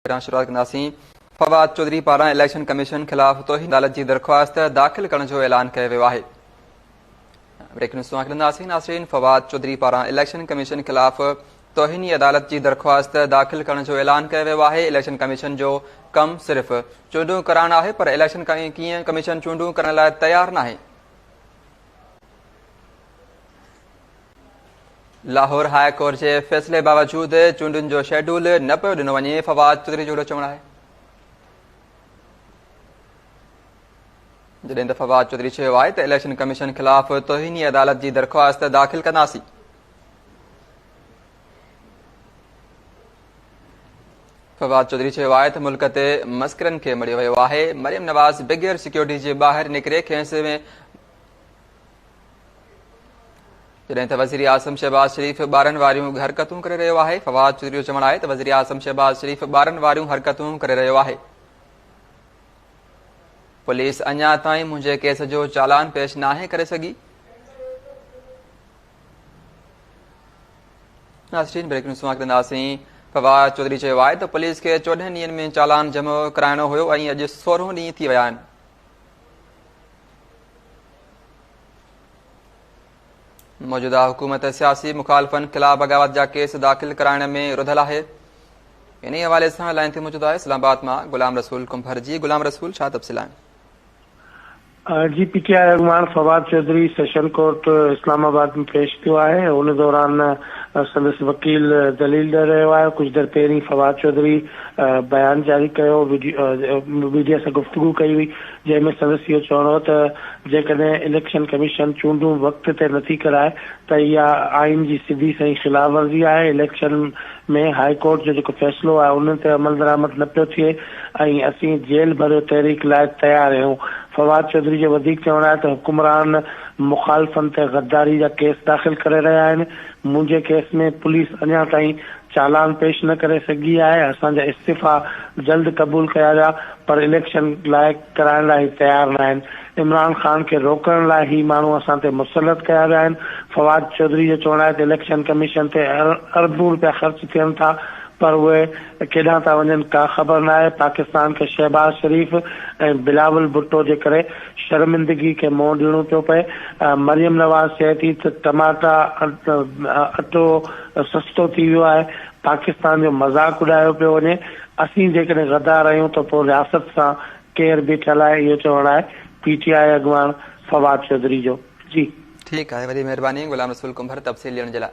پهريان شروعات ڪنداسين فواد چوڌري پاران اليڪشن ڪميشن خلاف توهين عدالت جي درخواست داخل ڪرڻ جو اعلان ڪيو ويو آهي بریڪ نيوز توهان ڏنداسين ناصرين فواد چوڌري پاران اليڪشن ڪميشن خلاف توهين عدالت جي درخواست داخل ڪرڻ جو اعلان ڪيو ويو آهي اليڪشن ڪميشن جو ڪم صرف چونڊون ڪرائڻ آهي پر اليڪشن ڪيئن ڪميشن چونڊون ڪرڻ لاء تيار ناهي لاهور هاء ڪورٽ جي فيصلي باوجود چونڊن جو شيڊول نه پيو ڏنو وڃي، فواد چوڌري جو اهڙو چوڻ آهي. جڏهن ته فواد چوڌري چيو آهي ته اليڪشن ڪميشن خلاف توهيني عدالت جي درخواست داخل ڪنداسين. فواد چوڌري چيو آهي ته ملڪ تي مسڪرن کي مڙيو ويو آهي، مريم نواز بغير سيڪيورٽي جي ٻاهر نڪري کيس جڏهن ته وزيراعظم شهباز شريف ٻارن واريون حرڪتون ڪري رهيو آهي فواد چودري جو چوڻ آهي ته وزيراعظم شهباز شريف ٻارن واريون حرڪتون ڪري رهيو آهي پوليس اڃا تائين منهنجي ڪيس جو چالان پيش ناهي ڪري سگهي ناظرين بريڪ نيوز سان ڪنداسين فواد چوڌري چيو آهي ته پوليس کي چوڏهن ڏينهن ۾ چالان جمع ڪرائڻو هيو ۽ اڄ سورهن ڏينهن ٿي ويا آهن موجوده حڪومت سياسي مخالفن خلاف بغاوت جا ڪيس داخل ڪرائڻ ۾ رڌل آهي انهي حوالي سان لائن تي موجود آهي اسلام آباد مان غلام رسول ڪنڀر جي غلام رسول ڇا تفصيل آهن R G P T I اڳواڻ Fawad Chaudhry session court Islamabad ۾ پيش ٿيو آهي ان دوران سندس وڪيل دليل ڏئي رهيو آهي ڪجهه در پهرين فواد چوڌري بيان جاري ڪيو ميڊيا سان گفتگو ڪئي وئي جنهن ۾ سندس اهو چوڻ هو ته جيڪڏهن اليڪشن ڪميشن چونڊون وقت تي نٿي ڪرائي ته اها آئين جي سڌي سنئين خلاف ورزي آهي، اليڪشن ۾ هاء ڪورٽ جو جيڪو فيصلو آهي ان تي عملدرآمد نه پيو ٿئي ۽ اسين جيل ڀريو تحريڪ لاء تيار اهيون. فواد چوڌري جو وڌيڪ چوڻ آهي ته حڪمران مخالفن تي غداري جا ڪيس داخل ڪري رهيا آهن، منهنجي ڪيس ۾ پوليس اڃا تائين چالان پيش نه ڪري سگهي آهي، اسان جا استعيفا جلد قبول ڪيا ويا پر اليڪشن لائق ڪرائڻ لاء هي تيار نه آهن، عمران خان کي روڪڻ لاء هي ماڻهو اسان تي مسلط ڪيا ويا آهن، فواد چوڌري جو چوڻ آهي ته اليڪشن ڪميشن تي اربون روپيا خرچ ٿين ٿا پر اهي ڪيڏانهن ٿا وڃن ڪا خبر نه آهي، پاڪستان کي شهباز شريف ۽ بلاول ڀٽو جي ڪري شرمندگي کي منهن ڏيڻو پيو پئي، مريم نواز چئي ٿي ته ٽماٽا اٽو. سستو ٿي ويو آهي، پاڪستان جو مذاق اڏايو پيو وڃي، اسين جيڪڏهن غدار آهيون ته پوء رياست سان ڪير بيٺل آهي اهو چوڻ آهي پي ٽي آء اڳواڻ فواد چوڌري جو. جي. ٺيڪ آهي وڏي مهرباني غلام رسول ڪنڀر تفصيل ڏيڻ جي لاء.